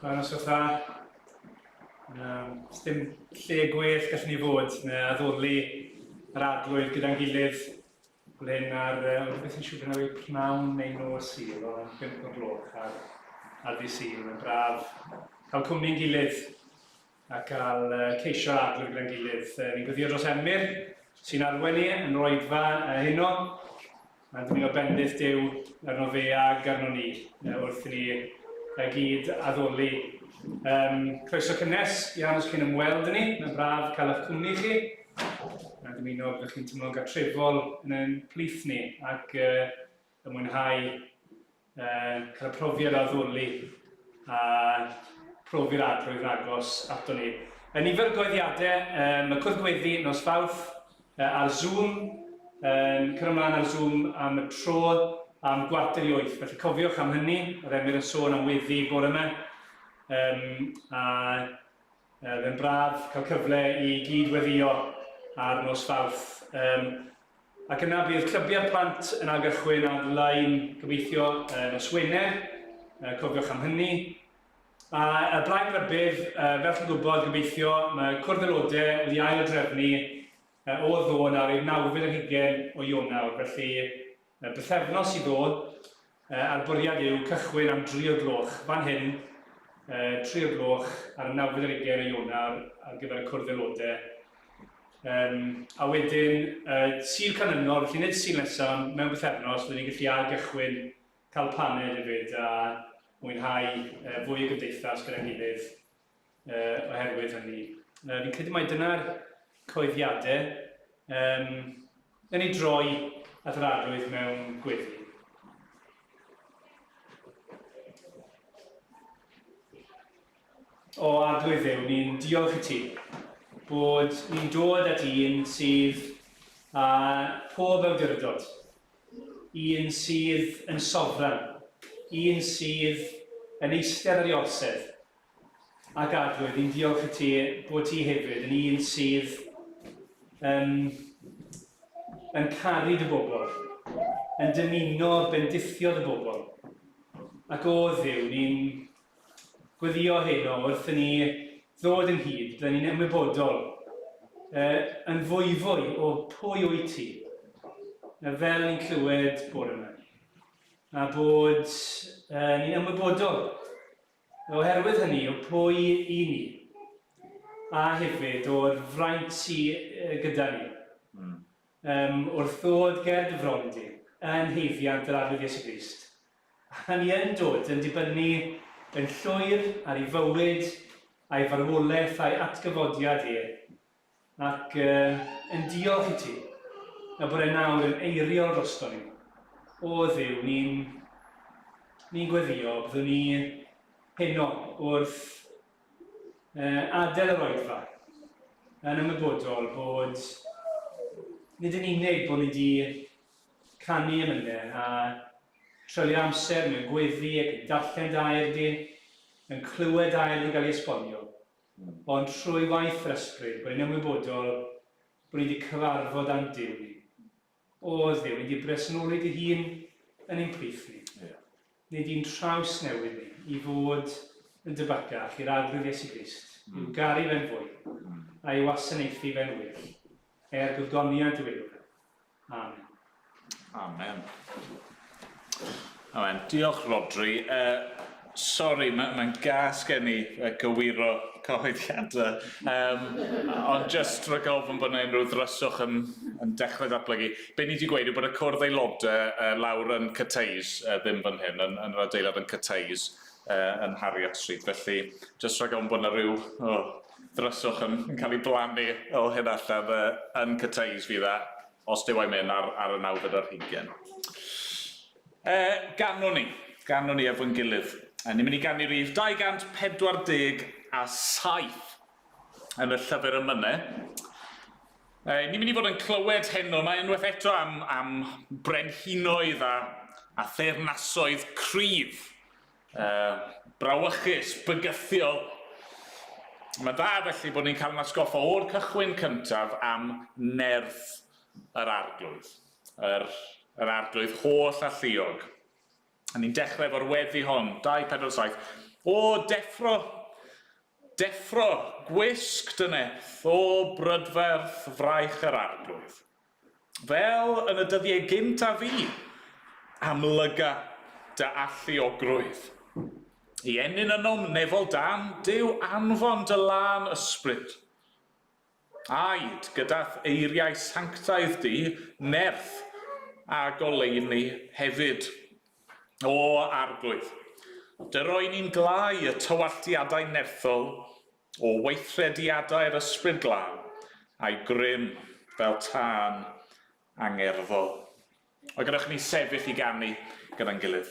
Mae'n os fatha, um, dim lle gwell gallwn ni fod na addoli yr adlwydd gyda'n gilydd ble mae'r um, beth yn siŵr bod yna pnawn neu nos i o yn pimp o gloch ar, ar ddi sy'n yn braf cael cwmni'n gilydd a cael ceisio agor gyda'n gilydd. Ni'n gweddïo dros Emyr, sy'n arwen ni yn yr oedfa heno, a dyn ni'n bendith Duw arno fe ag arno ni wrth i ni y gyd addoli. Um, croeso cynnes iawn os chi'n ymweld ni, mae'n braf cael eich cwmni chi, a dymuno byddwch chi'n teimlo'n gatrefol yn ein plith ni, ac uh, yn mwynhau uh, cael y profiad o addurlu a profi'r adroedd agos ato ni. Yn nifer goeddiadau, um, y cwrdd gweddi nos fawrth uh, ar Zoom, um, cyrra ymlaen ar Zoom am y tro am gwarter i oeth. Felly cofiwch am hynny, oedd Emyr yn sôn am weddi bore yma. Um, a Yy, fe'n braf cael cyfle i gyd weddio ar nos Fawrth. Um, ac yna bydd clybiau'r plant yn ail gychwyn ar-lein gobeithio uh, nos Wener, uh, cofiwch am hynny. A y blaen rybydd, uh, fel chi'n gwybod, gobeithio, mae cwrdd aelodau wedi ail drefnu uh, o ddôn ar ei nawfyd yn hugen o Ionawr, felly Y bythefnos i ddod, a'r bwriad yw cychwyn am dri o'r gloch fan hyn, tri o'r gloch ar y nawfed ar ugain o Ionar ar gyfer y cwrdd aelodau. Yym, a wedyn, y Sul canlynol, felly nid y Sul nesaf, ond mewn bythefnos, byddwn ni'n gallu ail-gychwyn, cael paned hefyd, a mwynhau fwy o gymdeithas gyda'n gilydd. uh, oherwydd hynny. Uh, fi'n credu mai dyna'r coeddiadau um, yn ei droi at yr arwydd mewn gweddi. O arglwydd yw, ni'n diolch i ti bod ni'n dod at un sydd a pob awdurdod, un sydd yn sofran, un sydd yn eistedd ar ei orsedd, Ac Adwy, fi'n diolch i ti bod ti hefyd yn un sydd yn, yn caru dy bobl, yn dymuno bendithio dy bobl. Ac o Dduw, ni'n gweddïo heno wrth i ni ddod ynghyd, byddwn ni'n ymwybodol uh, yn fwyfwy o pwy wyt ti, uh, fel ni'n clywed bore yma a bod uh, ni'n ymwybodol Oherwydd hynny o pwy i ni, a hefyd o'r fraint sy gyda ni, yym, wrth ddod ger dy fron di, yn haeddiant yr arglwydd Iesu Grist, a ni yn dod yn dibynnu yn llwyr ar ei fywyd, a'i farwolaeth, a'i atgyfodiad e, Ac yn diolch i ti, y bore nawr yn eiriol drosto ni. O Dduw, ni'n... ni'n gweddïo, byddwn ni heno wrth adael yr oedfa, yn ymwybodol bod nid yn unig bod ni wedi canu emynau a treulio amser mewn gweddi ac yn darllen dy air di, yn clywed dy air di gael ei esbonio, Ond trwy waith yr ysbryd, rwy'n ymwybodol bod ni wedi cyfarfod â'n Duw ni. O, Dduw, ni di bresennoli dy hun yn ein plith ni. Ni di'n traws newid ni i fod yn dy bacach i'r arglwydd Iesu Grist, i'w garu fe'n fwy, a'i wasanaethu fe'n well, er gogoniant dy weilwraig. Amen. Amen. Amen. Diolch, Rodri. Uh, Sori, mae'n ma gas gen i gywiro cyhoeddiadau, um, ond jyst rhaid ofyn bod yna unrhyw ddryswch yn, yn dechrau datblygu. Be ni wedi gweud yw bod y cwrdd aelodau uh, lawr yn Cyteis, uh, ddim fan hyn, yn, yn yr adeilad yn Cyteis, uh, yn Harriet Street. Felly, jyst rhaid ofyn bod yna rhyw oh, Dryswch yn cael ei blannu o hyn allan yy yn Cathays fydd e, os Duw a'i myn, ar ar y nawfed ar hugen. Yy, ganwn ni, ganwn ni efo'n gilydd. A ni'n mynd i ganu rif 247 yn y llyfr ym mynne. Yy, ni'n mynd i fod yn clywed heno, mae unwaith eto am am brenhinoedd a a theyrnasoedd cryf Yy, brawychus, bygythiol. Mae'n dda felly bod ni'n cael ein atgoffa o'r cychwyn cyntaf am nerth yr Arglwydd, yr, yr Arglwydd holl a lluog. A ni'n dechrau efo'r weddi hon, 247, O, deffro, deffro, gwisg dy nerth, O, brydferth, fraich yr Arglwydd. fel yn y dyddiau gynt a fu, amlyga dy alluogrwydd i ennyn ynom nefol dan Duw anfon dy lân ysbryd. Aed gyda'th eiriau sanctaidd di, nerth a goleuni hefyd. O Arglwydd, dy roi ni'n glai y tywalltiadau nerthol O weithrediadau'r Ysbryd Glân, a'i grym fel tân angerddol. A gadewch i ni sefyll i ganu gyda'n gilydd.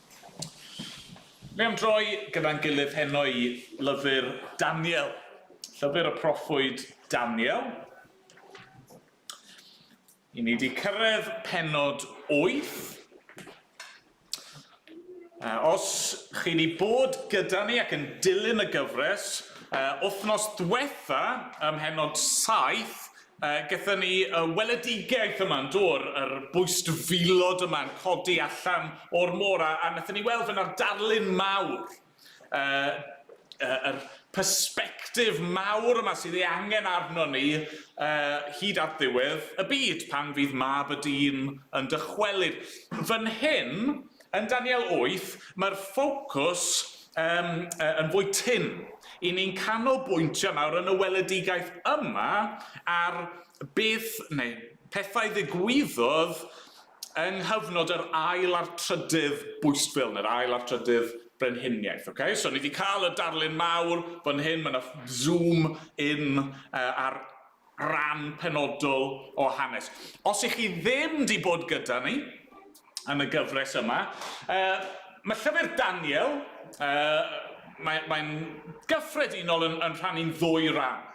Ni am droi gyda'n gilydd heno i lyfr Daniel, llyfr y proffwyd Daniel. I ni wedi cyrraedd pennod wyth. Uh, os chi wedi bod gyda ni ac yn dilyn y gyfres, uh, wythnos diwetha ym mhennod saith, Yy, gyda ni y weledigaeth yma'n dod, yr bwystfilod yma'n codi allan o'r môr, a, a nathon ni weld fe na'r darlun mawr, yy, yy, yr persbectif mawr yma sydd ei angen arnon ni uh, hyd at ddiwedd y byd, pan fydd mab y dyn yn dychwelyd. Fan hyn, Yn Daniel wyth, mae'r ffocws um, yn fwy tynn. I ni'n canolbwyntio nawr yn y weledigaeth yma ar beth neu pethau ddigwyddodd yng nghyfnod yr ail a'r trydydd bwysbil, neu'r ail a'r trydydd brenhiniaeth. Okay? So ni wedi cael y darlun mawr fan hyn, mae yna zoom in uh, ar rhan penodol o hanes. Os ych chi ddim di bod gyda ni yn y gyfres yma, uh, mae llyfr Daniel, uh, mae'n mae gyffredinol yn, yn rhannu'n ddwy ran.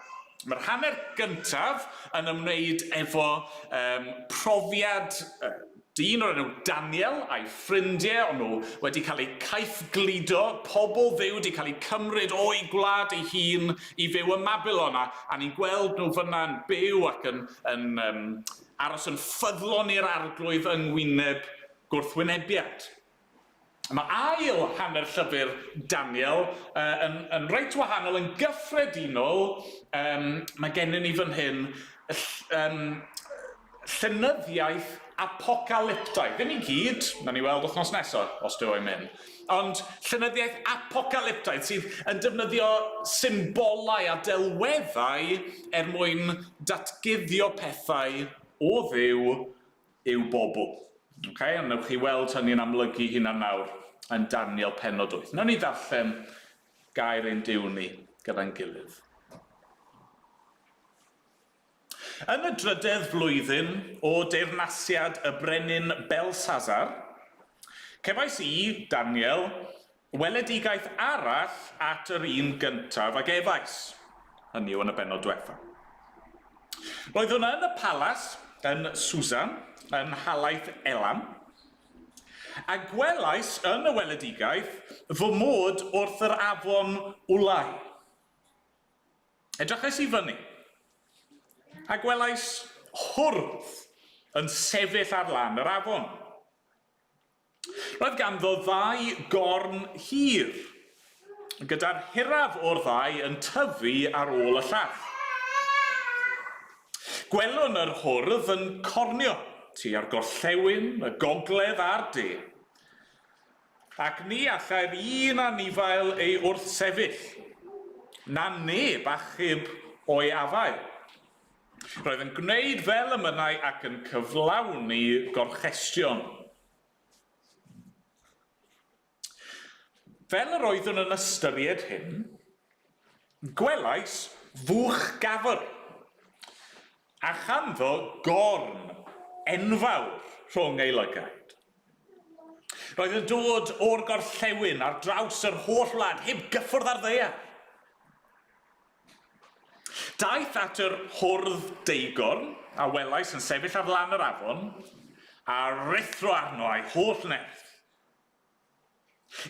Mae'r hanner gyntaf yn ymwneud efo um, profiad uh, Dyn o'r enw Daniel a'i ffrindie o'n nhw wedi cael eu caethgludo, pobl Dduw 'di cael eu cymryd o'u gwlad ei hun i fyw ym Mabilon, a, a ni'n gweld nhw fyna yn byw ac yn, yn um, aros yn ffyddlon i'r Arglwydd yng ngwyneb gwrthwynebiad. Mae ail hanner llyfr Daniel yn, yn reit wahanol, yn gyffredinol. Um, mae gennym ni fan hyn um, llynyddiaeth apocalyptaidd. Ddim i gyd, na ni weld wythnos nesaf, os dwi o'i mynd. Ond llynyddiaeth apocalyptaidd sydd yn defnyddio symbolau a delweddau er mwyn datguddio pethau o ddiw yw bobl. Ok, ond newch chi weld hynny'n amlygu hunan nawr yn Daniel pennod wyth. Nawn ni ddarllen gair ein Duw ni gyda'n gilydd. Yn y drydedd flwyddyn o deyrnasiad y brenin Belsazar, cefais i, Daniel, Weledigaeth arall at yr un gyntaf a gefais, hynny yw yn y bennod dwetha. Roeddwn yn y palas yn Susa, yn nhalaith Elam, a gwelais yn y weledigaeth fy mod wrth yr afon Ulai. Edrychais i fyny, a gwelais hwrdd yn sefyll ar lan yr afon. Roedd ganddo ddau gorn hir, gyda'r hiraf o'r ddau yn tyfu ar ôl y llall. Gwelwn yr hwrdd yn cornio tua'r gorllewin, y gogledd a'r de, ac ni allai'r un anifail ei wrthsefyll, na neb achub o'i afael. Roedd yn gwneud fel y mynnai ac yn cyflawni gorchestion. Fel yr oeddwn yn ystyried hyn, gwelais fuwch gafr, a chanddo gorn enfawr rhwng ei lygaid. Roedd yn dod o'r gorllewin ar draws yr holl wlad, heb gyffwrdd â'r ddaear. Daeth at yr hwrdd deugorn a welais yn sefyll ar lan yr afon, a ruthro arno a'i holl nerth.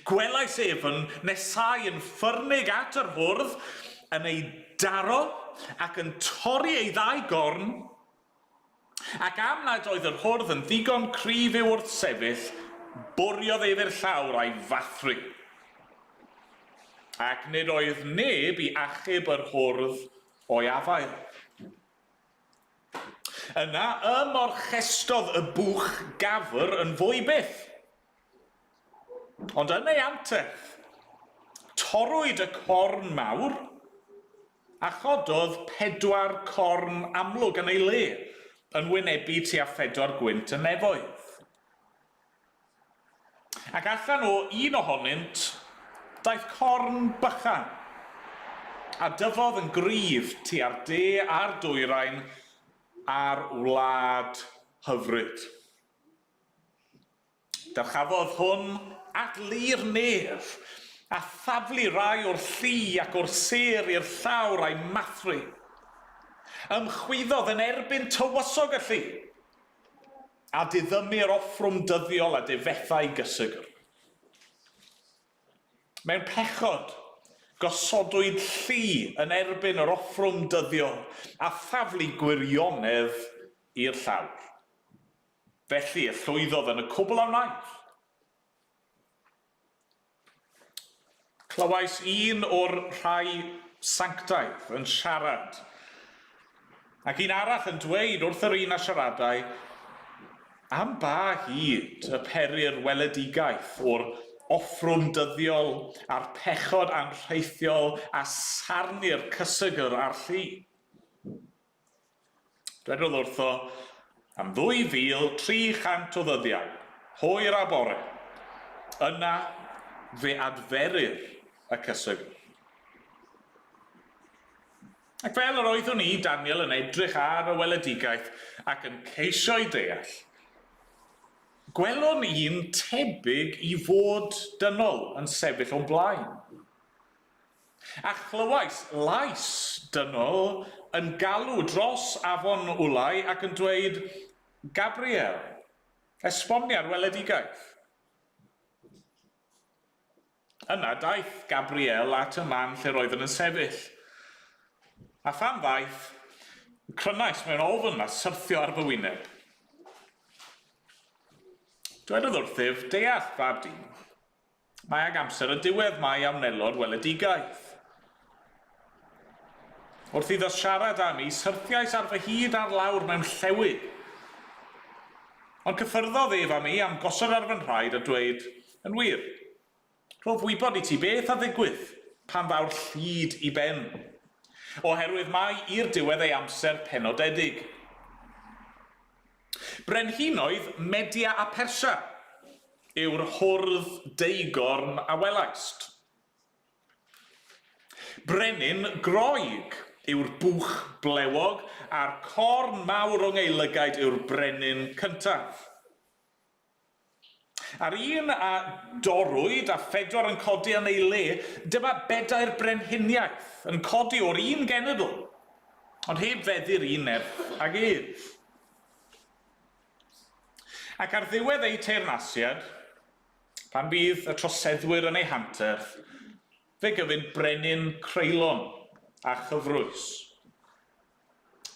Gwelais ef yn nesáu yn ffyrnig at yr hwrdd, yn ei daro ac yn torri ei ddau gorn Ac am nad oedd yr hwrdd yn ddigon cryf i'w wrthsefyll, bwriodd ef i'r llawr a'i fathru. Ac nid oedd neb i achub yr hwrdd o'i afael. Yna y morchestodd y bwch gafr yn fwy byth. Ond yn ei anterth, torrwyd y corn mawr, a chododd pedwar corn amlwg yn ei le, yn wynebu tua phedwar gwynt y nefoedd. Ac allan o un ohonynt daeth corn bychan, a dyfodd yn gryf tua'r de a'r dwyrain a'r wlad hyfryd. Dyrchafodd hwn at lu'r nef, a thaflu rai o'r lli ac o'r sêr i'r llawr a'i mathru. Ymchwyddodd yn erbyn tywysog y lli, a diddymu'r offrwm dyddiol a difethai gysegr. Mewn pechod, gosodwyd lli yn erbyn yr offrwm dyddiol a thaflu gwirionedd i'r llawr. Felly, y llwyddodd yn y cwbl a wnaeth. Clywais un o'r rhai sanctaidd yn siarad, ac un arall yn dweud wrth yr un a siaradai, Am ba hyd y perir weledigaeth o'r offrwm dyddiol a'r pechod anrheithiol a sarnir cysegr a'r lli? Dwedodd wrtho, Am ddwy fil tri chant o ddyddiau, hwyr a bore, yna fe adferir y cyswygr. Ac fel yr oeddwn i, Daniel, yn edrych ar y weledigaeth ac yn ceisio'i deall, gwelwn un tebyg i fod dynol yn sefyll o'm blaen. A chlywais lais dynol yn galw dros afon Ulai ac yn dweud, Gabriel, esbonia'r weledigaeth. Yna daeth Gabriel at y man lle roeddwn yn sefyll. A phan ddaeth, crynais mewn ofn a syrthio ar fy wyneb. Dwedodd wrthyf, Deall, fab dyn. Mae ag amser y diwedd mae a wnelo'r weledigaeth. Wrth iddo siarad â mi, syrthiais ar fy hyd ar lawr mewn llewy. Ond cyffyrddodd ef â mi am gosod ar fy nhraed a dweud, Yn wir, rhof wybod i ti beth a ddigwydd pan ddaw'r llid i ben, oherwydd mae i'r diwedd ei amser penodedig. Brenhinoedd Media a Persia yw'r hwrdd deugorn a welaist. Brenin Groeg yw'r bwch blewog a'r corn mawr o ngeilygaid yw'r brenin cyntaf. A'r un a dorrwyd a phedwar yn codi yn ei le, dyma bedair brenhiniaeth yn codi o'r un genedl, ond heb feddu'r un nerth ag ef. Ac ar ddiwedd eu teyrnasiad, pan fydd y troseddwyr yn eu hanterth, fe gyfyn brenin creulon a chyfrwys.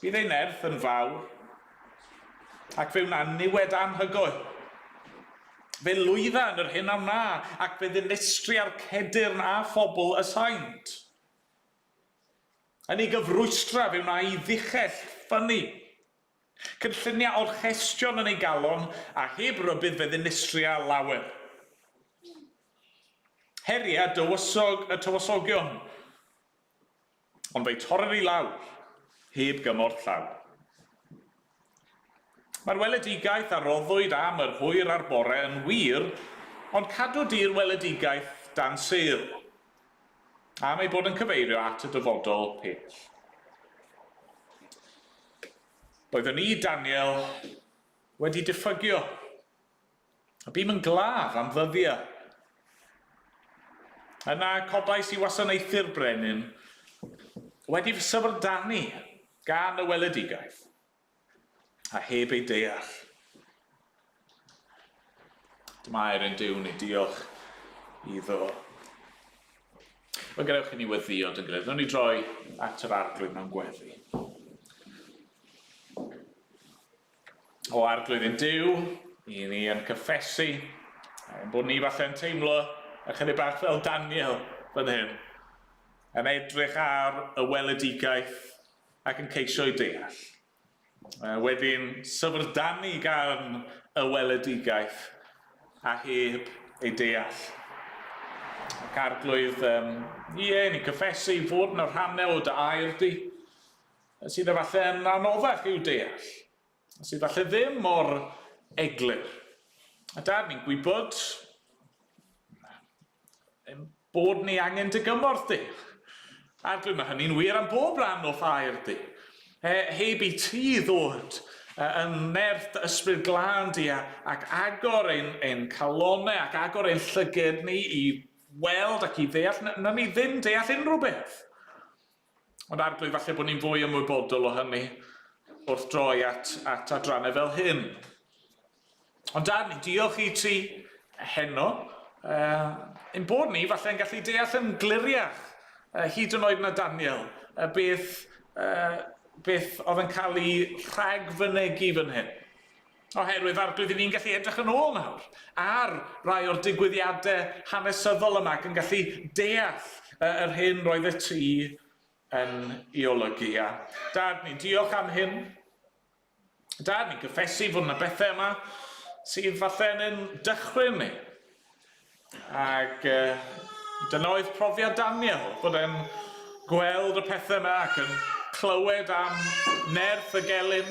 Bydd ei nerth yn fawr, ac fe wna'n niwed anhygoel. Fe lwydda yn yr hyn a wna, ac fe ddinestria'r Cedyrn a phobl y Saint. Yn ei gyfrwystra fe wna i ddichell ffynnu, cynllunia orchestion yn ei galon, a heb rybudd fe ddinistria lawer. Heria dywysog y tywysogion, Ond fe'i torrir i lawr, heb gymorth llaw. Mae'r weledigaeth a roddwyd am yr hwyr a'r bore yn wir, ond cadw di'r weledigaeth dan sêl, am ei bod yn cyfeirio at y dyfodol pell. Oeddwn i, Daniel, wedi diffygio. A bûm yn glaf am ddyddiau. Yna codais i wasanaethu'r brenin, wedi fy syfrdanu gan y weledigaeth, a heb ei deall. Dyma'r un Duw ni, diolch iddo. Wel, gadewch i ni weddïo, dwi'n gwneud. Rwy'n ni droi at yr arglwydd mewn gweddi. O Arglwydd yn Duw, i ni yn cyffesu ein bod ni falle yn teimlo ychydig bach fel Daniel fan hyn, yn edrych ar y weledigaeth ac yn ceisio ei deall. Mae wedi'n syfrdanu gan y weledigaeth a heb ei deall. Ac Arglwydd, um, ie, ni'n cyffesu i fod yn y rhannau o dy air di, sydd efallai yn anoddach i'w deall, a sydd efallai ddim mor eglur. A Dad, ni'n gwybod ein bod ni angen dy gymorth di. A dwi'n mae hynny'n wir am bob rhan o ffair di. He, heb i ti ddod yn nerth dy ysbryd glân di ac agor ein, ein calonau ac agor ein llyged ni i weld ac i ddeall, na ni ddim deall unrhyw beth. Ond arglwydd, falle bod ni'n fwy ymwybodol o hynny wrth droi at, at adrannau fel hyn. Ond Darni, diolch i ti heno. Uh, yn bod ni, falle yn gallu deall yn gliriach, uh, hyd yn oed na Daniel, uh, beth, uh, beth oedd yn cael ei rhagfynegu fan hyn. Oherwydd ar be' 'dyn ni'n gallu edrych yn ôl nawr ar rai o'r digwyddiade hanesyddol yma ac yn gallu deall yy yr hyn roeddet ti yn 'i olygu. A Dad, ni'n diolch am hyn. Dad, ni'n cyffesu fod 'na bethe yma sydd falle yn ein dychryn ni. Ac yy dyna oedd profiad Daniel, bod e'n gweld y pethau yma ac yn clywed am nerth y gelyn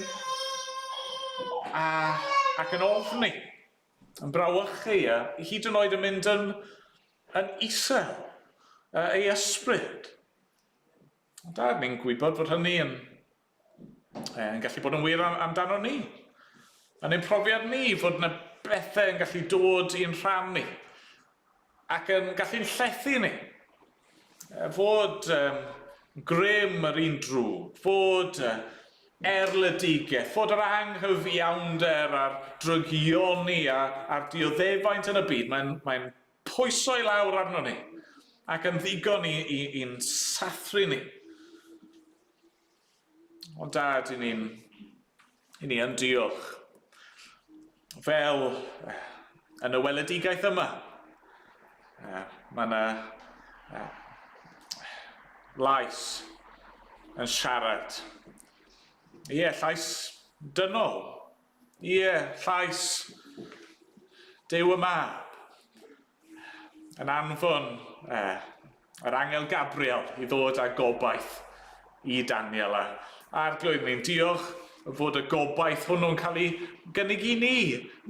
a, ac yn ofni, yn brawychu a hyd yn oed yn mynd yn, yn isel ei ysbryd. Da, ni'n gwybod fod hynny yn yn gallu bod yn wir am, amdano ni. Yn ein profiad ni fod yna bethau yn gallu dod i'n rhan ni ac yn gallu'n llethu ni. E, fod um, grym yr un drwg, fod uh, erledigaeth, fod yr anghyfiawnder a'r drygioni a, a'r dioddefaint yn y byd, mae'n mae pwyso i lawr arno ni ac yn ddigon i'n i, i sathru ni. O dad, i ni'n... i ni yn diolch. Fel yn y weledigaeth yma, uh, mae yna uh, lais yn siarad. Ie, yeah, llais dynol. Ie, llais Duw y Mab, yn anfon e, yr Angel Gabriel, i ddod â gobaith i Daniel a Arglwydd. Ni'n diolch fod y gobaith hwnnw'n cael ei gynnig i ni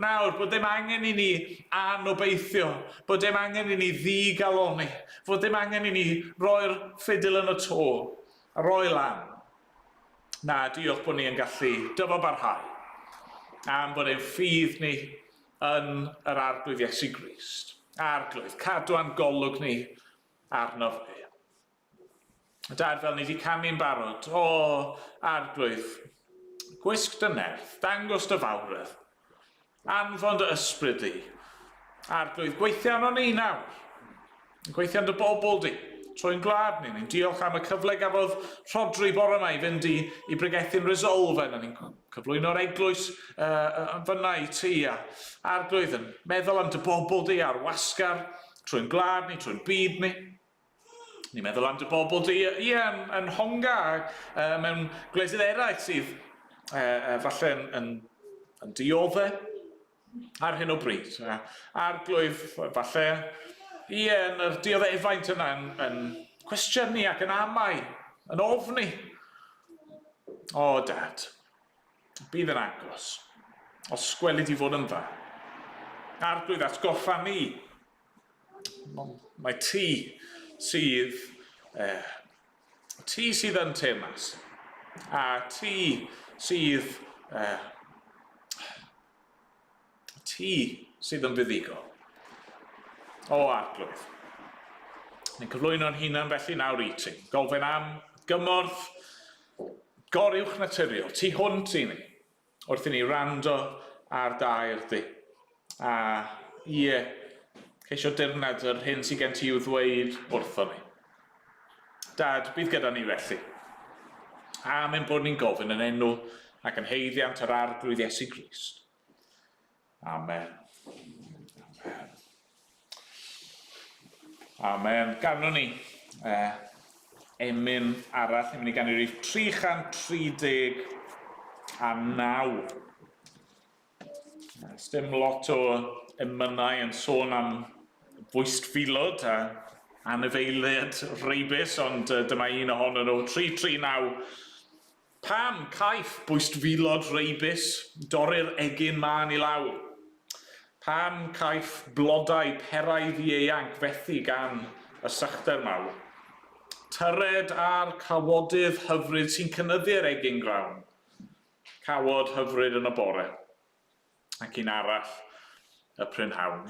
nawr, bod ddim angen i ni anobeithio, bod ddim angen i ni ddigaloni, fod ddim angen i ni roi'r ffidil yn y to a roi lan. Na, diolch bod ni yn gallu dyfalbarhau am bod ein ffydd ni yn yr Arglwydd Iesu Grist, Arglwydd, cadw a'n golwg ni arno fe. Dad, fel ni wedi canu'n barod, o Arglwydd, gwisg dy nerth, dangos dy fawredd, Anfon dy ysbryd di. Arglwydd, gweithia arnon ni nawr. Gweithia yn dy bobl di. Troi'n gwlad ni. Ni'n diolch am y cyfle gafodd Rhodri bore yma i fynd i, i bregethu'n Resolve, na ni'n cyflwyno'r eglwys uh, fyna i ti. A arglwydd yn meddwl am dy bobl di a'r wasgar trwy'n gwlad ni, trwy'n byd ni. Ni'n meddwl am dy bobl di, ie, yn, yn Honga, uh, mewn gwledydd eraill sydd uh, uh, falle yn, yn, yn diodde ar hyn o bryd. Uh, arglwydd, falle, ie, yn yr dioddefaint yna yn, yn cwestiynu ac yn amau, yn ofni. O, dad, bydd yn agos, os gwelid i fod yn dda. Arglwydd, atgoffa ni Mae ti sydd... Eh, ti sydd yn temas. A ti sydd... Eh, ti sydd yn fuddugol. O, Arglwydd. Ni'n cyflwyno'n hunan felly nawr i ti. Gofyn am gymorth goruwch naturiol. Ti hwnt i ni. Wrth i ni wrando ar dair di. A, ie, ceisio dirnad yr hyn sydd gen ti i'w ddweud wrthon ni. Dad, bydd gyda ni felly. Am ein bod ni'n gofyn yn enw ac yn haeddiant yr Arglwydd Iesu Grist. Amen. Amen. Amen. Ganwn ni uh, emyn arall, ni'n mynd i gannu rif 330 a 9. Dim lot o emynau yn sôn am bwystfilod a anifeiliad reibus, ond uh, dyma un ohonyn nhw, 339. Pam caiff bwystfilod reibus dorri'r egin mân i lawr? Pam caiff blodau perau ddieuanc fethu gan y sychder mawr? Tyred a'r cawodydd hyfryd sy'n cynyddu'r egin grawn. Cawod hyfryd yn y bore, ac un arall y prynhawn.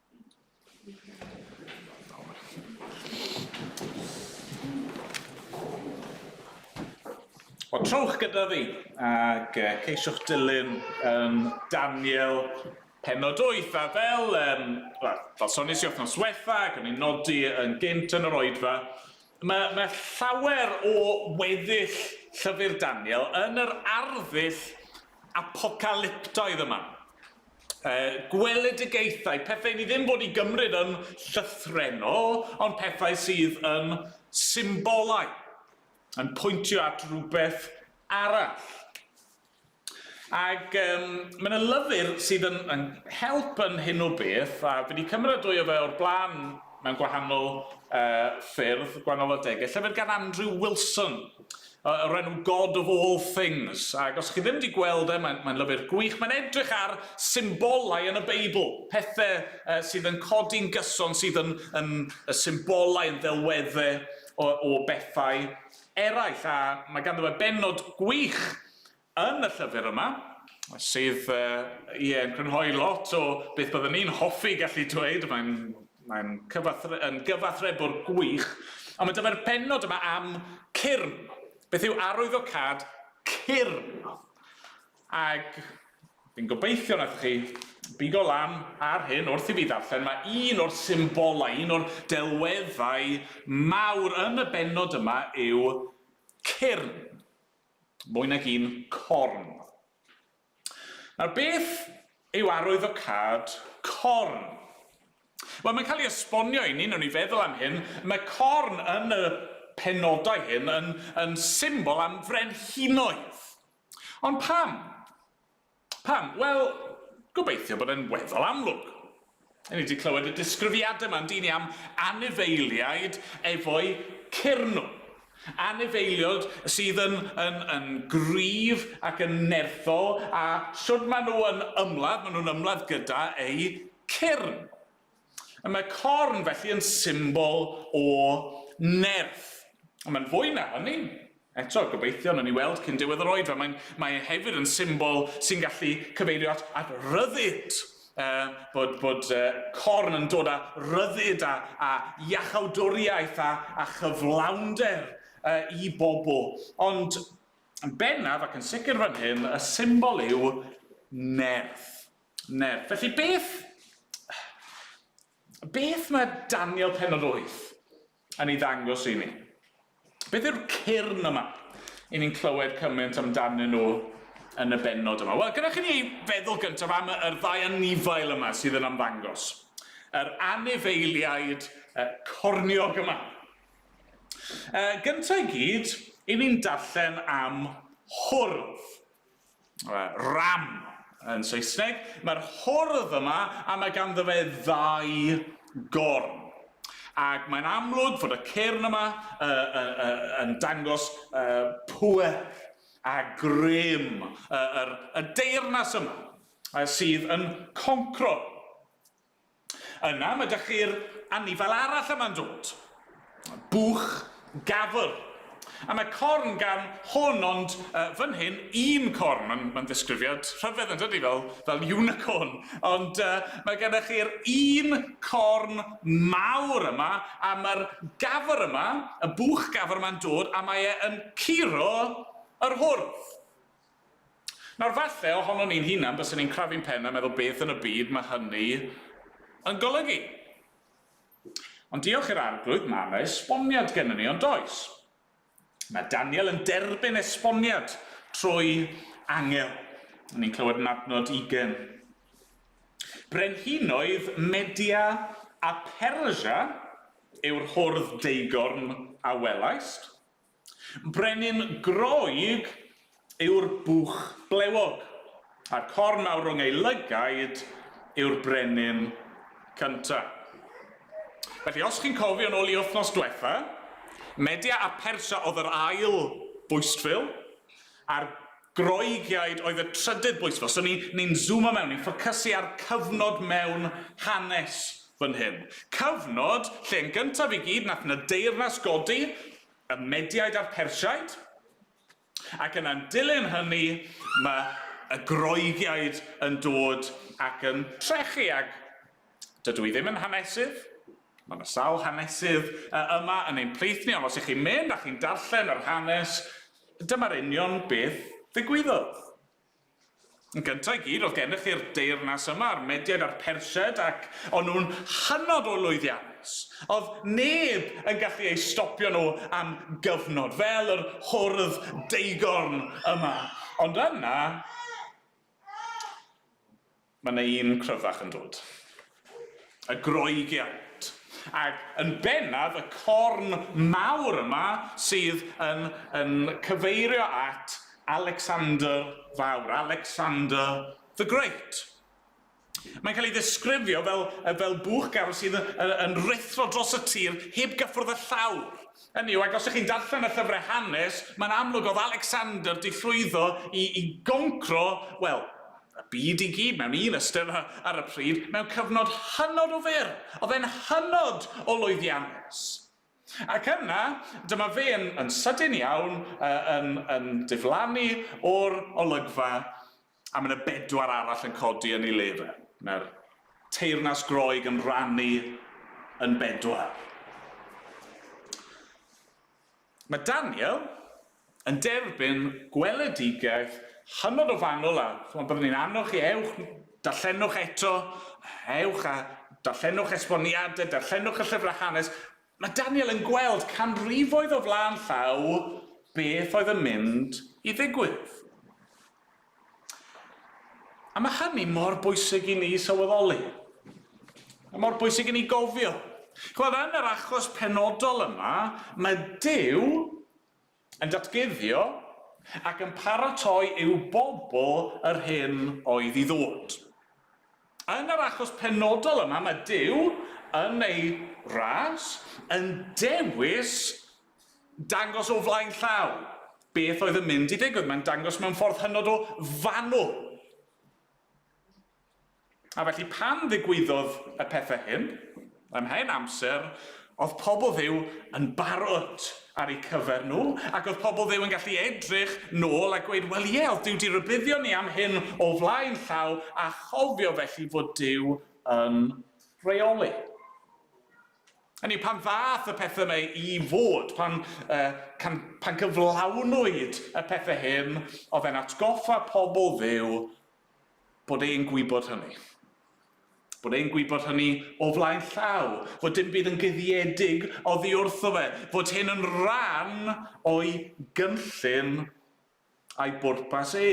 Wel, trowch gyda fi ac uh, ceisiwch dilyn um, Daniel penod 8 a fel, um, well, fel sonis i wythnos wetha ac o'n i'n nodi yn gynt yn yr oedfa, mae, mae llawer o weddill llyfr Daniel yn yr arddull apocalyptoedd yma. uh, gweledigaethau, pethau ni ddim bod i gymryd yn llythrenol, ond pethau sydd yn symbolau, yn pwyntio at rhywbeth arall. Ac um, mae yna lyfr sydd yn, yn help yn hyn o beth, a fi wedi cymryd dwy o fe o'r blaen mewn gwahanol uh, ffyrdd, gwahanol adegau, llyfr gan Andrew Wilson, Yy, o'r enw God of All Things. Ac os chi ddim 'di gweld e, mae'n, mae'n lyfr gwych. Mae'n edrych ar symbolau yn y Beibl, pethe yy, sydd yn codi'n gyson, sydd yn, yn y symbolau, yn ddelwedde o, o bethau eraill. A mae ganddo fe bennod gwych Yn y llyfr yma, sydd, ie, yn crynhoi lot o beth byddwn i'n hoffi gallu dweud, mae'n, mae'n cyfathre-, yn gyfathrebwr gwych, ond mae dyma'r pennod yma am cyrn. Beth yw arwyddocâd cyrn? Ac, fi'n gobeithio wnaethoch chi bigo lan ar hyn wrth i fi ddarllen, mae un o'r symbolau, un o'r delweddau mawr yn y bennod yma yw cyrn. mwy nag un corn. Nawr, beth yw arwyddocâd corn? Wel, mae'n cael ei esbonio i ni, newn ni feddwl am hyn, mae corn yn y penodau hyn yn, yn symbol am frenhinoedd. Ond pam? Pam? Wel, gobeithio bod e'n weddol amlwg. Ni 'di clywed y disgrifiadau 'ma, yndyn ni, am anifeiliaid efo'u cyrnw. Anifeiliod sydd yn, yn, yn gryf ac yn nerthol, a shwd maen nhw yn ymladd, maen nhw'n ymladd gyda eu cyrn. Y mae corn felly yn symbol o nerth. Ond mae'n fwy na hynny. Eto, gobeithio, nawn ni weld cyn diwedd yr oedfa, mae'n, mae e hefyd yn symbol sy'n gallu cyfeirio at, at ryddid. Uh, bod, bod uh, corn yn dod â ryddid a, a iachawdwriaeth a, a chyflawnder uh, i bobl. Ond yn bennaf ac yn sicr fan hyn, y symbol yw nerth. Neb. Felly beth... beth mae Daniel penod 8 yn ei ddangos i ni? Beth yw'r cyrn yma i ni'n clywed cymaint amdanyn nhw yn y benod yma? Wel, gyda chi ni feddwl gyntaf am yr ddau anifail yma sydd yn ymddangos. Yr anifeiliaid uh, corniog yma. Uh, gyntaf i gyd, i ni'n darllen am hwrdd. ram yn Saesneg, mae'r hordd yma a mae ganddo fe ddau gorn. Ac mae'n amlwg fod y cyrn yma uh, uh, uh, yn dangos uh, pwer a grym uh, yr, y deyrnas yma uh, sydd yn concro Yna, mae 'da chi'r anifail arall yma'n dod. Buwch gafr. A mae corn gan hwn, ond uh, fan hyn, un corn. Mae'n ma ddisgrifiad rhyfedd yn dydy, fel, fel unicorn. Ond uh, mae gennych chi'r un corn mawr yma, a mae'r gafr yma, y buwch gafr yma'n dod, a mae e yn curo yr hwrdd. Nawr, falle, ohonon ni'n hunan, bysen ni'n crafu'n pen a meddwl beth yn y byd mae hynny yn golygu. Ond diolch i'r Arglwydd, mae yna esboniad gennym ni, ond oes? Mae Daniel yn derbyn esboniad trwy angel. Ni'n clywed yn adnod ugen. Brenhinoedd Media a Persia yw'r hwrdd deigorn a welaist. Brenin Groeg yw'r bwch blewog, a'r corn mawr rhwng ei lygaid yw'r brenin cynta. Felly, os chi'n cofio nôl i wythnos dwetha, Media a Persia oedd yr ail bwystfil, a'r Groegiaid oedd y trydydd bwyslais. So ni'n ni zŵmo mewn, ni'n ffocysu ar cyfnod mewn hanes fan hyn. Cyfnod lle yn gyntaf i gyd nath 'na deyrnas godi, y Mediaid a'r Persiaid, ac yna'n dilyn hynny ma' y Groegiaid yn dod ac yn trechu ag dydw i ddim yn hanesydd, ma' 'na sawl hanesydd yy yma yn ein plith ni ond os 'ych chi'n mynd a chi'n darllen yr hanes Dyma'r union beth ddigwyddodd. Yn gynta' i gyd, o'dd gennych chi'r deyrnas yma, a'r Mediaid a'r Persiaid, ac o'n nhw'n hynod o lwyddiannus. O'dd neb yn gallu eu stopio nhw am gyfnod, fel yr hwrdd deugorn yma. Ond yna, Mae 'na un cryfach yn dod. Y groegiant. Ac yn bennaf y corn mawr yma sydd yn yn cyfeirio at Alecsander Fawr, Alexander the Great. Mae'n cael ei ddisgrifio fel fel bwch garw sydd yn yn ruthro dros y tir heb gyffwrdd â llawr. Hynny yw, ac os 'ych chi'n darllen y llyfrau hanes, mae'n amlwg o'dd Alecsander 'di llwyddo i i goncro, wel, y byd i gyd mewn un ystyr ar y pryd, mewn cyfnod hynod o fyr, oedd e'n hynod o lwyddiannus. Ac yna, dyma fe yn, yn sydyn iawn, uh, yn, yn diflannu o'r olygfa, a mae yna bedwar arall yn codi yn ei le fe. Mae'r teyrnas Groeg yn rhannu yn bedwar. Mae Daniel yn derbyn gweledigaeth hynod o fanwl a chimod byddwn i'n annog chi ewch darllenwch eto, ewch a darllenwch esboniadau, darllenwch y llyfrau hanes. Mae Daniel yn gweld canrifoedd o flaen llaw beth oedd yn mynd i ddigwydd. A mae hynny mor bwysig i ni sylweddoli, a mor bwysig i ni gofio. Chimod, yn yr achos penodol yma, mae Duw yn datguddio ac yn paratoi i'w bobl yr hyn oedd i ddod. Yn yr achos penodol yma, mae Duw, yn ei ras, yn dewis Dangos o flaen llaw beth oedd yn mynd i ddigwydd. Mae'n dangos mewn ffordd hynod o fanwl. A felly pan ddigwyddodd y pethau hyn, ym mhen amser, oedd pobl Dduw yn barod ar eu cyfer nhw, ac oedd pobl Dduw yn gallu edrych nôl a gweud, wel ie, oedd Duw di rybuddio ni am hyn o flaen llaw, a chofio felly fod Duw yn rheoli. Hynny yw, pan ddaeth y pethau yma i fod, pan, uh, can, pan gyflawnwyd y pethau hyn, oedd e'n atgoffa pobl ddew bod e'n gwybod hynny. Bod e'n gwybod hynny o flaen llaw, fod dim byd yn guddiedig oddi wrtho fe, fod hyn yn rhan o'i gynllun a'i bwrpas e.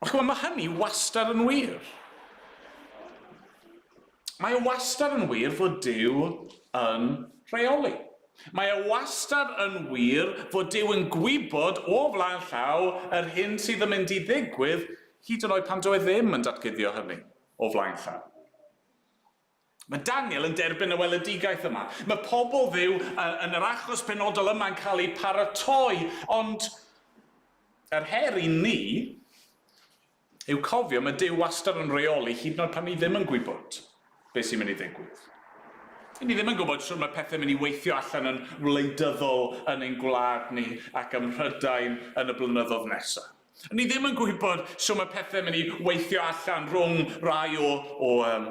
Ond chymod, mae hynny wastad yn wir. Mae e wastad yn wir fod Dyw yn rheoli. Mae e wastad yn wir fod Dyw yn gwybod o flaen llaw yr hyn sydd yn mynd i ddigwydd, hyd yn oed pan dyw e ddim yn datguddio hynny o flaen llaw. Mae Daniel yn derbyn y weledigaeth yma. Mae pobl Dduw yn yr achos penodol yma yn cael eu paratoi, ond yr her i ni yw cofio mae Duw wastad yn rheoli hyd yn oed pan ni ddim yn gwybod beth sy'n mynd i ddigwydd. Dyn ni ddim yn gwybod shwt mae pethau'n mynd i weithio allan yn wleidyddol yn ein gwlad ni ac ym Mhrydain yn y blynyddoedd nesaf. Ni ddim yn gwybod shw mae pethau mynd i weithio allan rhwng rai o o um,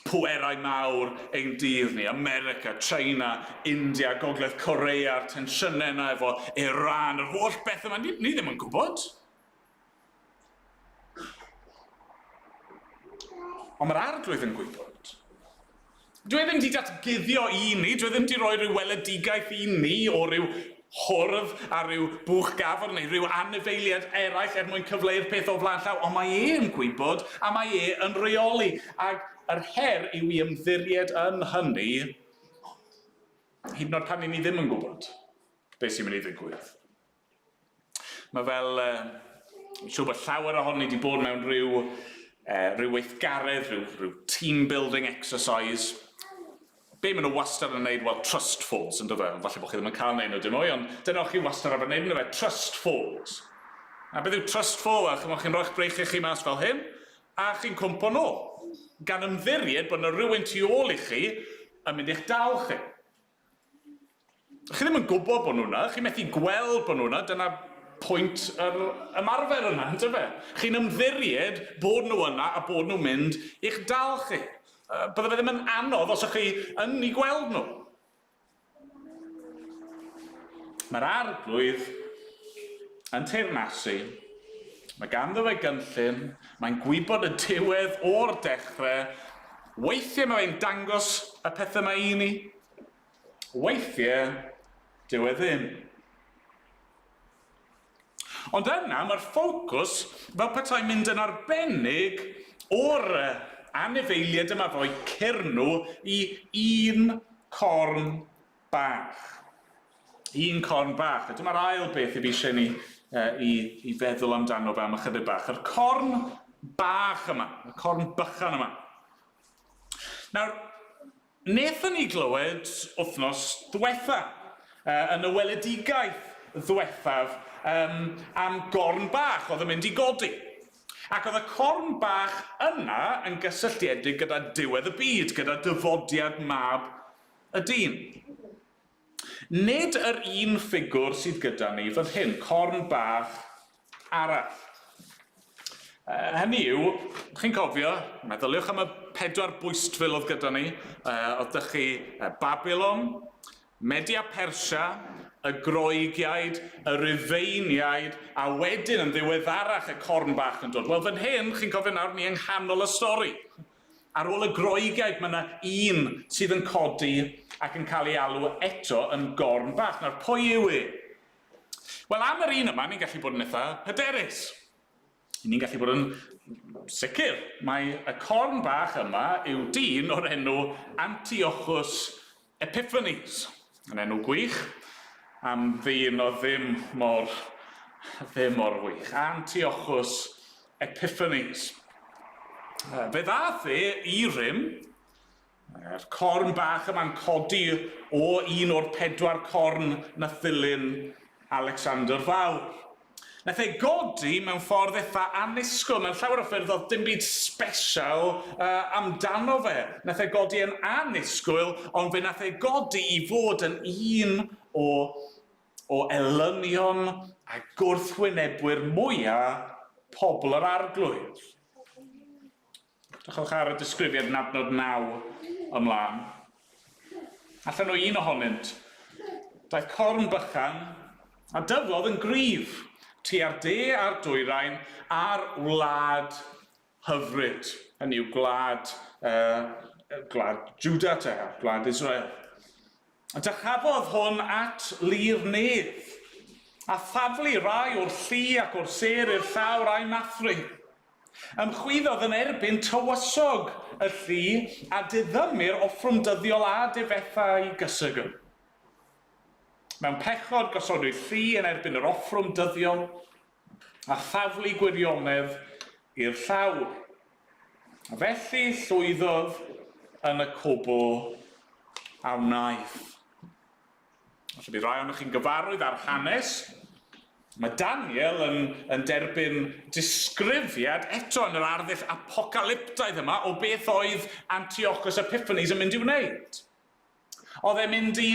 pwerau mawr ein dydd ni, America, China, India, Gogledd Corea, a'r tensiynau yna efo Iran, yr holl beth yma, ni, ni ddim yn gwybod. Ond mae'r arglwydd yn gwybod. Dw i ddim 'di datguddio un ni, dw i ddim 'di rhoi rhyw weledigaeth un ni o ryw hwrdd ar ryw bwch gafr neu ryw anifeiliad eraill er mwyn cyfleu'r peth o flaen llaw, ond mae e yn gwybod a mae e yn rheoli, ac yr her yw i ymddiried yn hynny, hyd yn oed pan 'yn ni ddim yn gwybod beth sy'n mynd i ddigwydd. Mae fel, yy, siŵr bod llawer ohonon ni wedi bod mewn rhyw, uh, rhyw weithgaredd, rhyw, rhyw team building exercise. Be maen nhw wastad yn gwneud? Wel, trust falls, yn dydw? Falle bod chi ddim yn cael neud nhw dim mwy, ond dyna o'ch chi wastad ar wneud, yn dydw? Trust falls. A beth yw trust fall? Wel, chymod, chi'n rhoi'ch breichiau chi mas fel hyn, a chi'n cwmpo nôl. Gan ymddiried bod yna rhywun tu ôl i chi yn mynd i'ch dal chi. Chi ddim yn gwybod bod nhw yna, chi methu gweld bod nhw yna, dyna pwynt yr ymarfer yna, yn dyfe? Chi'n ymddiried bod nhw yna a bod nhw'n mynd i'ch dal chi. Bydde fe ddim yn anodd os o'ch chi yn eu gweld nhw. Mae'r Arglwydd yn teyrnasu, mae ganddo fe gynllun, mae'n gwybod y diwedd o'r dechrau, Weithie mae fe'n dangos y pethe 'ma i ni, weithie dyw e ddim. Ond yna mae'r ffocws fel petai mynd yn arbennig o'r anifeilied yma ddoe cyrnw i un corn bach. Un corn bach. A dyma'r ail beth i fi eisiau ni uh, i, i feddwl amdano fe am ychydig bach. Yr corn bach yma, y corn bychan yma. Nawr, nethon ni glywed wythnos ddwetha, uh, yn y weledigaeth ddwethaf, um, am gorn bach oedd yn mynd i godi. Ac oedd y corn bach yna yn gysylltiedig gyda diwedd y byd, gyda dyfodiad mab Y dyn. Nid yr un ffigwr sydd gyda ni fan hyn, corn bach arall. Uh, hynny yw, chi'n cofio, meddyliwch am y pedwar bwystfil oedd gyda ni, uh, oedd dych chi uh, Babylon, Media Persia, y Groegiaid, y Rufeiniaid, a wedyn yn ddiweddarach y corn bach yn dod. Wel, fan hyn, chi'n cofio nawr, ni yng nghanol y stori. Ar ôl y Groegeg, mae 'na un sydd yn codi ac yn cael ei alw eto yn gorn bach. Nawr, pwy yw e? Wel, am yr un yma, ni'n gallu bod yn eitha hyderus. Ry'n ni'n gallu bod yn sicr mai y corn bach yma yw dyn o'r enw Antiochus Epiphanies! Yn enw gwych am ddyn oedd ddim mor, ddim mor wych. Antiochus Epiphanies. Yy, fe ddath e i rym, yr corn bach yma'n codi o un o'r pedwar corn nath ddilyn Alexander Fawr. Nath e godi mewn ffordd eitha annisgwl, mewn llawer o ffyrdd o'dd dim byd sbesial amdano fe. Nath e godi yn annisgwyl, ond fe nath e godi i fod yn un o o elynion a gwrthwynebwyr mwya pobl yr Arglwydd. Edrychwch ar y disgrifiad yn adnod 9 ymlaen. Allan o un ohonynt. Daeth corn bychan a dyflodd yn gryf tua'r de a'r dwyrain a'r wlad hyfryd, hynny yw gwlad, yy, gwlad Jwda te, gwlad Israel. A dychafodd hwn at lu'r nef, a thaflu rai o'r llu ac o'r sêr i'r llawr a'i mathru. Ymchwyddodd yn erbyn tywysog y llu, a diddymu'r offrwm dyddiol a difetha'i gysegr. Mewn pechod gosodwyd llu yn erbyn yr offrwm dyddiol, a thaflu gwirionedd i'r llawr. Felly llwyddodd yn y cwbl a wnaeth. Falle bydd rhai ohonoch chi'n gyfarwydd â'r hanes. Mae Daniel yn, yn derbyn disgrifiad eto yn yr arddull apocalyptaidd yma o beth oedd Antiochus Epiphanes yn mynd i'w wneud. Oedd e'n mynd i...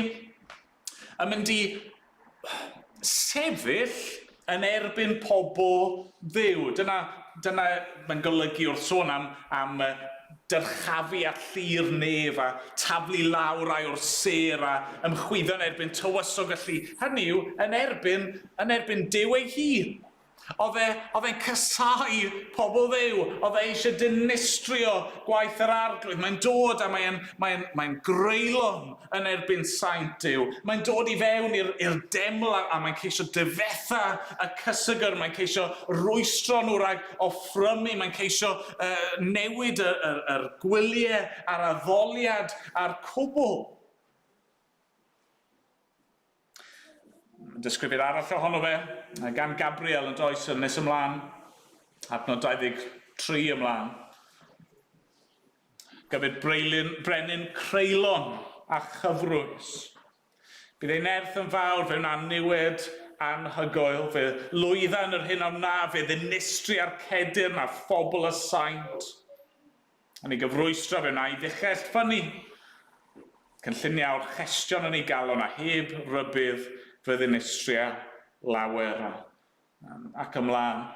yn mynd i... sefyll yn erbyn pobl Dduw. Dyna... dyna... mae'n golygu wrth sôn am... am dyrchafu at llu'r nef a taflu lawr rai o'r sêr a ymchwyddo yn erbyn tywysog y llu, hynny yw, yn erbyn... yn erbyn Duw ei hun. Oedd e, oedd e'n casáu pobl Dduw, oedd e eisiau dinistrio gwaith yr Arglwydd. Mae'n dod a mae'n mae mae greulon yn erbyn saint Duw. Mae'n dod i fewn i'r i'r deml a, a mae'n ceisio difetha y cysygr, mae'n ceisio rwystro nhw rhag offrymu, mae'n ceisio uh, newid y, y, yr gwyliau a'r addoliad a'r cwbl. Disgrifir arall ohono fe gan Gabriel yn does yn nes ymlaen, adnod 23 ymlaen. Gyfyd breilyn, brenin creulon a chyfrwys. Bydd ei nerth yn fawr, fe wna niwed anhygoel, fe lwydda yn yr hyn a wna, fe ddinistri a'r cedir na phobl y saint. yn ei gyfrwystro fe wna'i ddichell ffynnu. Cynlluniau'r chestion yn ei galon a heb rybudd fe ddinistria lawer a, ac ymlaen.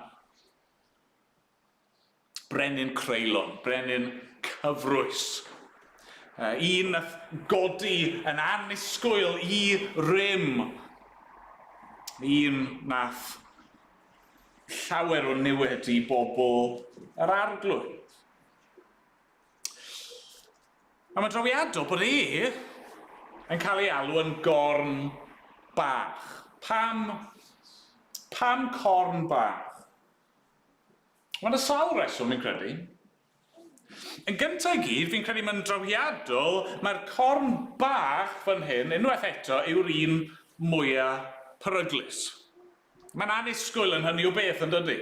Brenin creulon, brenin cyfrwys. Un nath godi yn annisgwyl i rym. Un nath llawer o niwed i bobl yr Arglwydd. A mae'n drawiadol bod e yn cael ei alw yn gorn bach. Pam, pam corn bach? Mae'n y sawl reswm, fi'n credu. Yn gynta i gyd, fi'n credu mae'n drawiadol, mae'r corn bach fan hyn, unwaith eto, yw'r un mwya peryglus. Mae'n annisgwyl yn hynny o beth, yn dydy?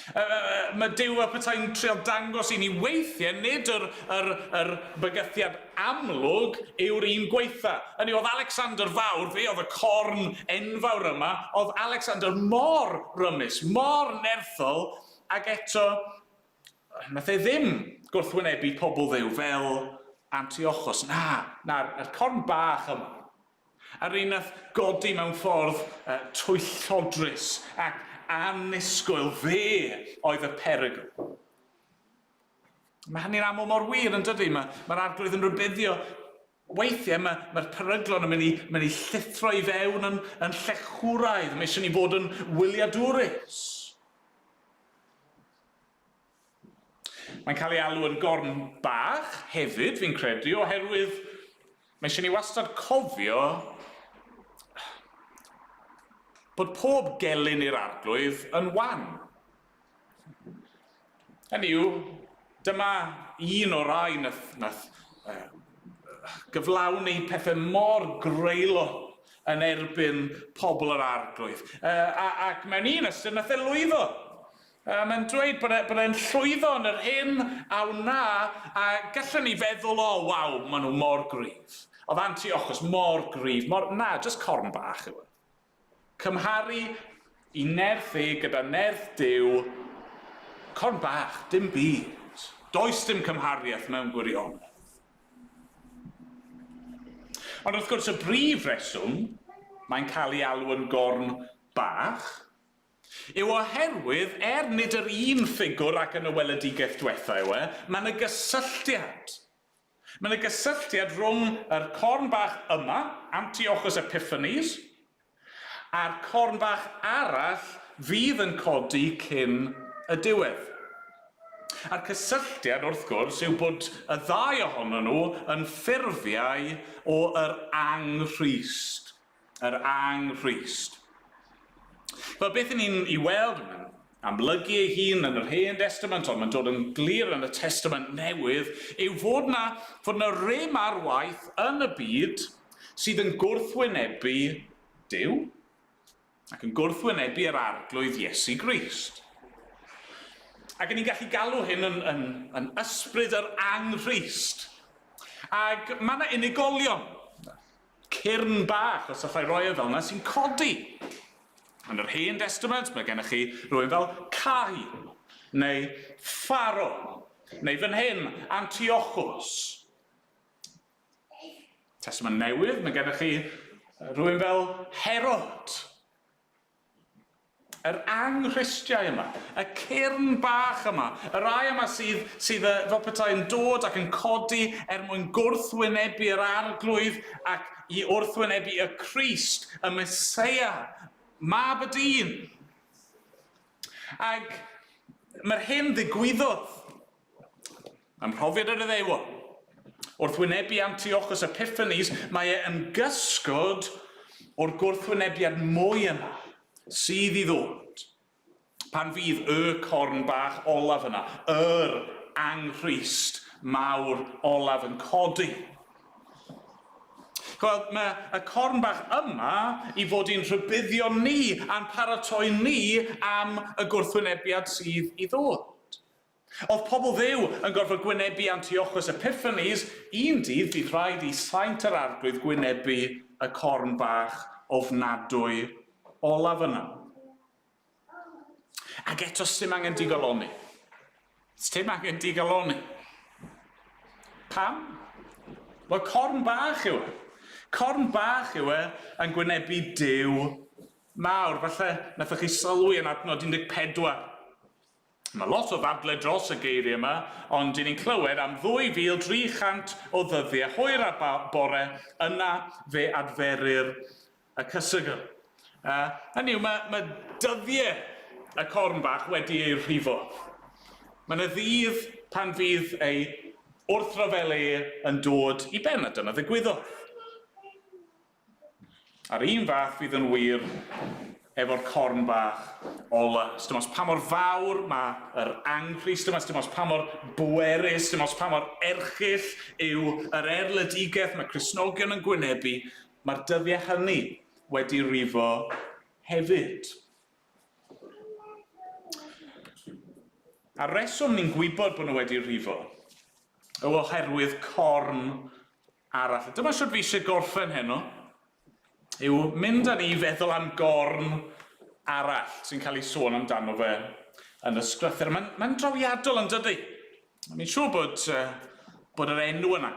Yy, mae Duw a petai'n trial dangos i ni weithiau nid yr, yr, yr bygythiad amlwg yw'r un gwaetha. Hynny oedd Alexander Fawr, fe oedd y corn enfawr yma, oedd Alexander mor rymus, mor nerthol, Ac eto, wnaeth e ddim gwrthwynebu pobl Dduw fel Antiochos, na, na, yr corn bach yma, yr un wnaeth godi mewn ffordd twyllodrus ac annisgwyl, fe oedd y perygl. Mae hynny'n aml mor wir, yn dydy? Mae'r Arglwydd yn rhybuddio Weithiau mae, mae'r peryglon yn mynd i, mynd i llithro i fewn yn, yn llechwraidd. Mae eisiau ni fod yn wyliadwrus. Mae'n cael ei alw yn gorn bach hefyd, fi'n credu, oherwydd mae eisiau ni wastad cofio bod pob gelyn i'r arglwydd yn wan. Hynny yw, dyma un o'r rhai nath, nath uh, gyflawni pethau mor greulon yn erbyn pobl yr arglwydd. Uh, ac mewn un ystyr, nath e lwyddo. Uh, mae'n dweud bod, e, bod e'n llwyddo yn yr hyn a wna, a gallwn ni feddwl, o, oh, waw, maen nhw mor gryf. Oedd anti-ochos mor gryf, mor, na, jyst corn bach yw e. Cymharu i nerth e gyda nerth Duw, corn bach, dim byd. Does dim cymhariaeth mewn gwirionedd. Ond wrth gwrs, y brif reswm mae'n cael ei alw yn gorn bach yw oherwydd, er nid yr un ffigwr ac yn y weledigaeth dwetha yw e, mae 'na gysylltiad. Mae yna gysylltiad rhwng yr corn bach yma, Antiochus Epiphanes, a'r corn bach arall fydd yn codi cyn y diwedd. A'r cysylltiad, wrth gwrs, yw bod y ddau ohonyn nhw yn ffurfiau o yr Angrhyst. yr Anghrist. Wel, beth ni'n ei weld yn amlygu ei hun yn yr Hen Destament, ond mae'n dod yn glir yn y Testament Newydd, yw fod na, fod na rym ar waith yn y byd sydd yn gwrthwynebu Dyw ac yn gwrthwynebu yr Arglwydd Iesu Grist. Ac ni'n gallu galw hyn yn, yn, yn ysbryd yr anghrist. Ac mae yna unigolion, cyrn bach o syllau royau fel 'na sy'n codi. Yn yr Hen Destament, mae gennych chi rhywun fel Cahi, neu Pharo, neu fan hyn, Antiochos. Testament Newydd, mae gennych chi rhywun fel Herod. Yr anghristiau yma. Y cyrn bach yma. Y rhai yma sydd, sydd yy, fel petai yn dod ac yn codi er mwyn gwrthwynebu yr Arglwydd ac i wrthwynebu y Crist, y Meseia, Mab y dyn. Ac mae'r hyn ddigwyddodd. Ym mhrofiad yr Iddewon, wrth wynebu Antiochus Epiphanes, mae e yn gysgod o'r gwrthwynebiad mwy yna sydd i ddod pan fydd Y Corn Bach olaf yna, yr Anghreist mawr olaf yn codi. Chwel, mae y Corn Bach yma i fod i'n rhybuddio ni a'n paratoi ni am y gwrthwynebiad sydd i ddod. Oedd pobl Dduw yn gorfod gwynebu Antiochus Epiphanes? Un dydd bu rhaid i saint yr Arglwydd gwynebu y corn bach ofnadwy olaf yna. Ac eto sdim angen digalonni. Sdim angen digalonni. Pam? Wel, corn bach yw e. Corn bach yw e yn gwynebu Duw mawr. Falle nathoch chi sylwi yn adnod 14. Mae lot o ddadle dros y geiriau yma, ond dyn ni'n clywed am 2,300 o ddyddiau hwyr a bore, yna fe adferir y cysgl. Hynny yw, mae, mae dyddiau y corn bach wedi eu rhifo. Mae yna ddydd pan fydd ei wrthryfel e yn dod i ben, a dyna ddigwyddodd. A'r un fath fydd yn wir efo'r corn bach ola. Sdim ots pa mor fawr ma' yr anghri, sdim ots dim ots pa mor bwerus, sdim ots pa mor erchyll yw yr erledigeth ma' Cristnogion yn gwynebu, ma'r dyddie hynny wedi rifo hefyd. A'r reswm ni'n gwybod bo' nw wedi rifo yw oherwydd corn arall. A dyma shwt fi isie gorffen heno, yw mynd â ni i feddwl am gorn arall sy'n cael ei sôn amdano fe yn y sgrythur. Mae'n mae'n drawiadol yn dydi? Mi'n siŵr bod yy bod yr enw yna,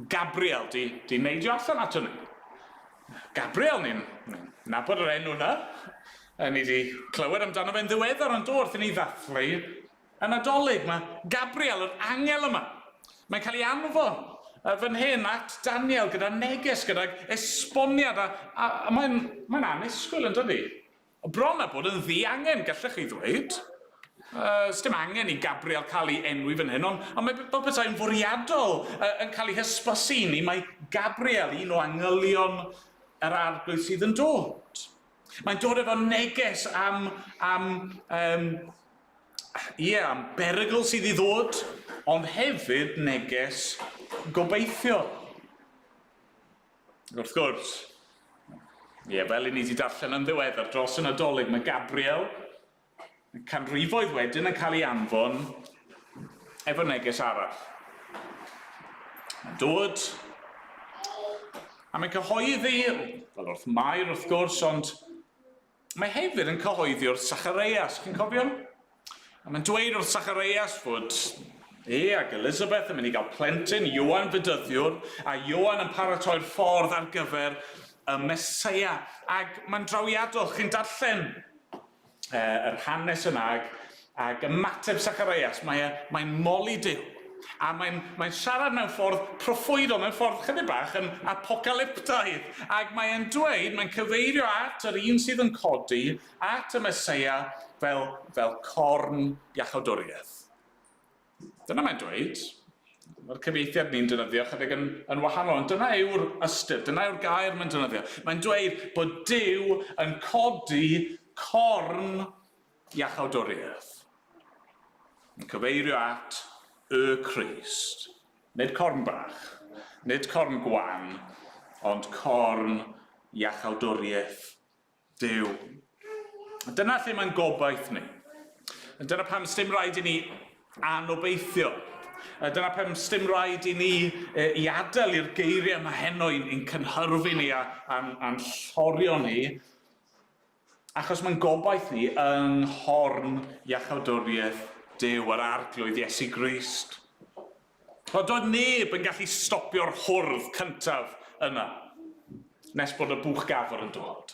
Gabriel, di di neidio allan ato ni. Gabriel, ni'n nabod yr enw yna, a ni di clywed amdano fe'n ddiweddar, ond do, wrth i ni ddathlu Y Nadolig, mae Gabriel, yr angel yma, mae'n cael ei anfon uh, fan hyn at Daniel gyda neges, gydag esboniad, a, a, a mae'n mae anusgwyl yn dydy. Bron a bod yn ddi angen, gallech chi ddweud. Uh, Sdim angen i Gabriel cael ei enwi fan hyn, ond, ond mae fel bethau'n fwriadol uh, yn cael ei hysbysu i ni, mae Gabriel, un o angylion yr arglwydd sydd yn dod. Mae'n dod efo neges am, am, um, ie, yeah, am berygl sydd i ddod, ond hefyd neges gobeithio. Wrth gwrs, ie, yeah, fel i ni wedi darllen yn ddiweddar dros y Nadolig, mae Gabriel Mae canrifoedd wedyn yn cael ei anfon efo neges arall. Mae'n dod, a mae'n cyhoeddi, fel wrth Mair wrth gwrs, ond mae hefyd yn cyhoeddi wrth Sachareias, chi'n cofio? A mae'n dweud wrth Sachareias fod e ac Elizabeth yn mynd i gael plentyn, Ioan Fedyddiwr, a Ioan yn paratoi'r ffordd ar gyfer y Mesoea. Ac mae'n drawiadol, chi'n darllen yr hanes yna ag, ag ymateb Sacharias, mae e, mae'n moli Duw. A mae'n, mae'n siarad mewn ffordd proffwydol, mewn ffordd chydig bach yn apocalyptaidd, ac mae'n dweud, mae'n cyfeirio at yr un sydd yn codi, at y Mesoea fel, fel corn iachawdwriaeth. Dyna mae'n dweud. Mae'r cyfeithiad ni'n dynyddio chydig yn, yn wahanol, ond dyna yw'r ystyr, dyna yw'r gair mae'n dynyddio. Mae'n dweud bod Dyw yn codi corn iachawdwriaeth. Yn cyfeirio at y Crist. Nid corn bach, nid corn gwan, ond corn iachawdwriaeth Duw. A dyna lle mae'n gobaith ni. A dyna pam stym rhaid i ni anobeithio. A dyna pam stym rhaid i ni e, i adael i'r geiriau yma heno i'n, in cynhyrfu ni a, a'n, a llorio ni, achos mae'n gobaith ni yng nghorn iachawdwriaeth Duw, yr arglwydd Iesu Grist. Wel, doedd neb yn gallu stopio'r hwrdd cyntaf yna, nes bod y buwch gafr yn dod.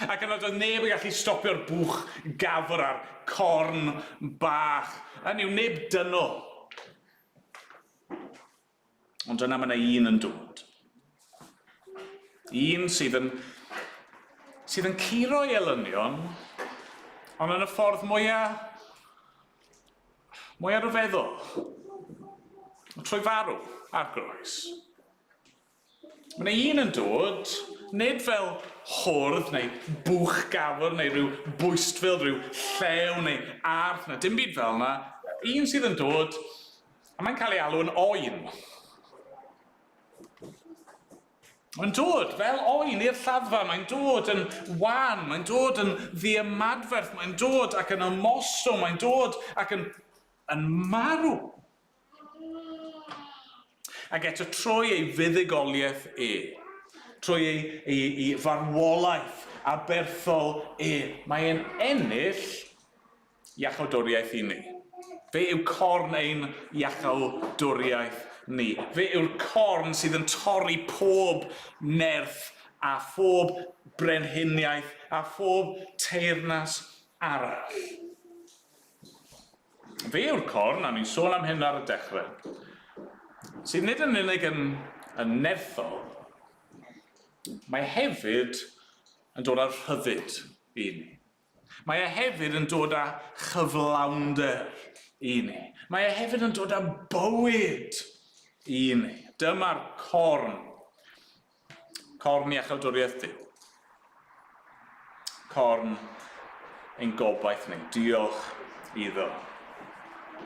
Ac yna doedd neb yn gallu stopio'r buwch gafr a'r corn bach, hynny yw, neb dynol. Ond yna mae yna un yn dod. Un sydd yn sydd yn curo ei elynion, ond yn y ffordd mwyaf Mae ar y feddwl. Trwy farw, ar groes. Mae 'na un yn dod, nid fel hwrdd neu bwch gafr neu rhyw bwystfil, rhyw llew neu arth, na dim byd fel 'na, un sydd yn dod, a mae'n cael ei alw yn Oen. Mae'n dod fel oen i'r lladdfa, mae'n dod yn wan, mae'n dod yn ddiymadferth, mae'n dod ac yn ymostwng, mae'n dod ac yn, yn marw. Ac eto trwy ei fuddugoliaeth e, trwy ei, ei, ei farwolaeth aberthol e, mae e'n ennill iachawdwriaeth i ni. Fe yw corn ein iachawdwriaeth ni. Fe yw'r corn sydd yn torri pob nerth a phob brenhiniaeth a phob teyrnas arall. Fe yw'r corn, a ni'n sôn am hyn ar y dechrau, sydd nid yn unig yn, yn nerthol, mae hefyd yn dod â'r rhyddid i ni. Mae e hefyd yn dod â chyflawnder i ni. Mae e hefyd yn dod â bywyd i ni. Dyma'r corn. Corn i achaldwriaeth Duw. Corn ein gobaith ni. Diolch iddo.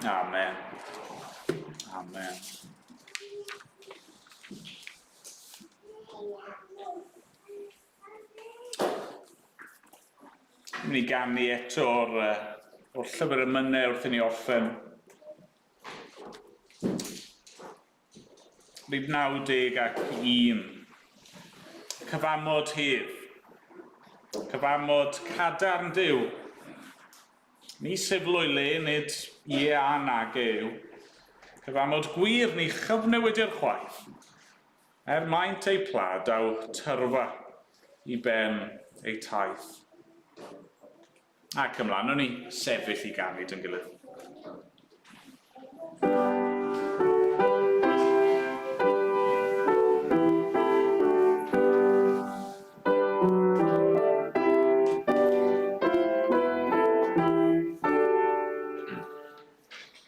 Amen. Amen. Ni ganu eto o'r, uh, o'r llyfr y mynne wrth i ni orffen. Rib 90 ac 1. Cyfamod hir. Cyfamod cadarn Dyw. Ni sefloi le nid ie a nag e yw. Cyfamod gwir ni chyfnewidir chwaith. Er maent eu pla daw tyrfa i ben eu taith. Ac ymlaen o'n ni, sefyll i ganu dyn gilydd.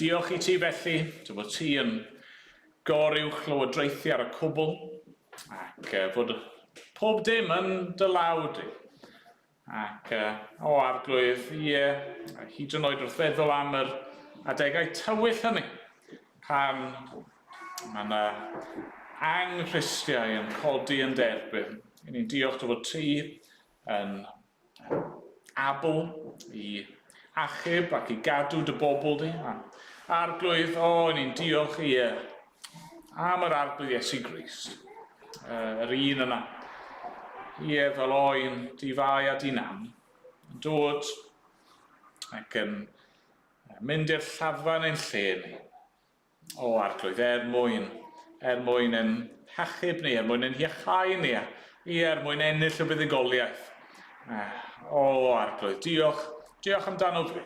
Diolch i ti felly, dy bod ti yn goruwch lywodraethu ar y cwbl ac bod pob dim yn dy law di. Ac, o Arglwydd, ie, hyd yn oed wrth feddwl am yr adegau tywyll hynny, pan mae yna anghristiau yn codi yn dy erbyn, i ni'n diolch dy fod ti yn abl i achub ac i gadw dy bobl di. A, Arglwydd, o, i ni'n diolch, ie, Am yr Arglwydd Iesu Grist, yr un yna, ie, fel oen, di fai a di nam, yn dod ac yn mynd i'r llafa neu'n lle ni. O Arglwydd, er mwyn, er mwyn yn hachub ni, er mwyn yn hiachau ni, a i er mwyn ennill y buddugoliaeth. O Arglwydd, diolch, diolch amdano fi.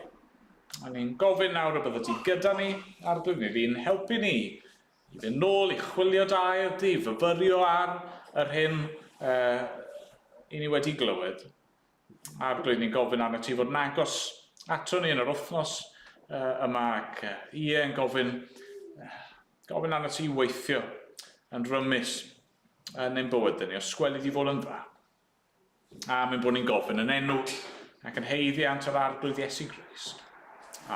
A ni'n gofyn nawr y byddet ti gyda ni a'r dwy mi fi'n helpu ni i fynd nôl i chwilio da erdi, i fyfyrio ar yr hyn uh, i ni wedi glywed. A'r dwy ni'n gofyn arno ti fod yn agos ato ni yn yr wythnos uh, yma ac uh, ie yn gofyn, uh, gofyn arno ti weithio yn rymus yn ein bywydau ni, os gwelid i fod yn dda. Am ein bod ni'n gofyn yn enw ac yn heiddiant yr Arglwydd Iesu Grist.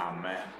Amen.